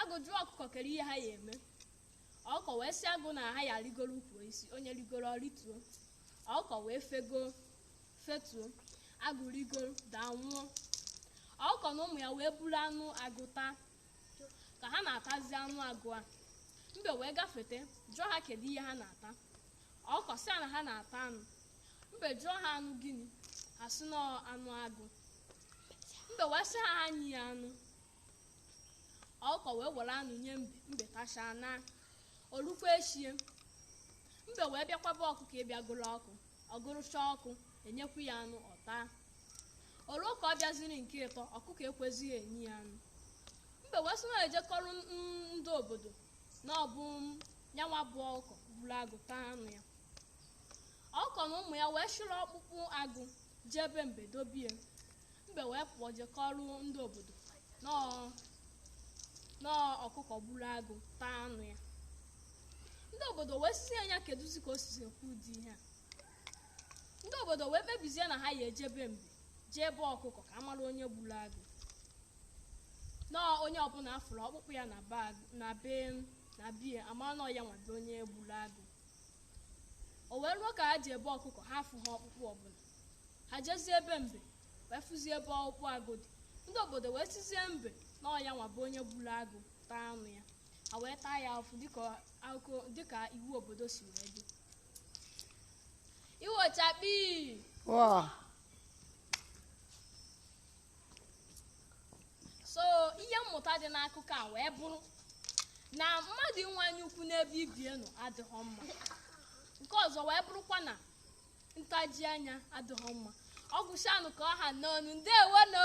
agụ jụọ ọkụkọ kere ihe ha ya eme ọkụkọ wee sị agụ na ha ya arigoro ukwu isi onye rigoro ọ rịtuo ọkụkọ wee fego fetuo agụ rigoro daa nwụọ ọkụkọ na ụmụ ya wee buru anụ agụ taa ka ha na-atazi anụ agụ a mbe wee gafete jụọ ha kere ihe ha na-ata ọkụkọ sị na ha na-ata anụ mbe jụọ ha anụ gịnị ha sị na anụ agụ mbe wee sị ha ha nye ya anụ ọkụkọ wee were anụ nye mbe mbe tachaa na o lukwa echie mbe wee bịakwa be ọkụkọ ịbịa gụrụ ọkụ ọ gụrụchaa ọkụ e nyekwu ya anụ ọ taa o luo ka ọ bịaziri nke ịtọ ọkụkọ ekwezighị enye ya anụ mbe wee sị na eje kọọrọ n- ndị obodo na ọ bụ nyanwa bụ ọkụkọ gburu agụ taa anụ ya ọkụkọ na ụmụ ya wee chịrị ọkpụkpụ agụ jee be mbe dobie mbe wee pụọ je kọọrọ ndị obodo na ọ ọkụkọ gburu agụ taa anụ ya ndị obodo wee sị ya nya kedụzi ka o sizi ekwu ụdị ihe a ndị obodo wee kpebizie na ha ya eje be mbe jee be ọkụkọ ka a mara onye gburu agụ na onye ọbụla a fụrụ ọkpụkpụ ya na be na bie a ma na ọ ya nwa bụ onye gburu agụ o wee ruo ka ha jee be ọkụkọ ha afụhọ ọkpụkpụ ọbụla ha jezie be mbe wee fụzie ebe ọkpụkpụ agụ dị ndị obodo wee sịzie mbe na ọ ya nwa bụ onye gburu agụ taa anụ ya ha wee taa ya afụfụ dịka akụkọ dịka iwu obodo si wee dị iwo chakpi wọọ so ihe mmụta dị n'akụkọ a wee bụrụ na mmadụ inwe anya ukwu n'ebe ibie nọ adịghị mma nke ọzọ wee bụrụkwa na ntaji anya adịghị mma ọ gwụchanụ ka ọ ha n'ọnụ ndewo nụ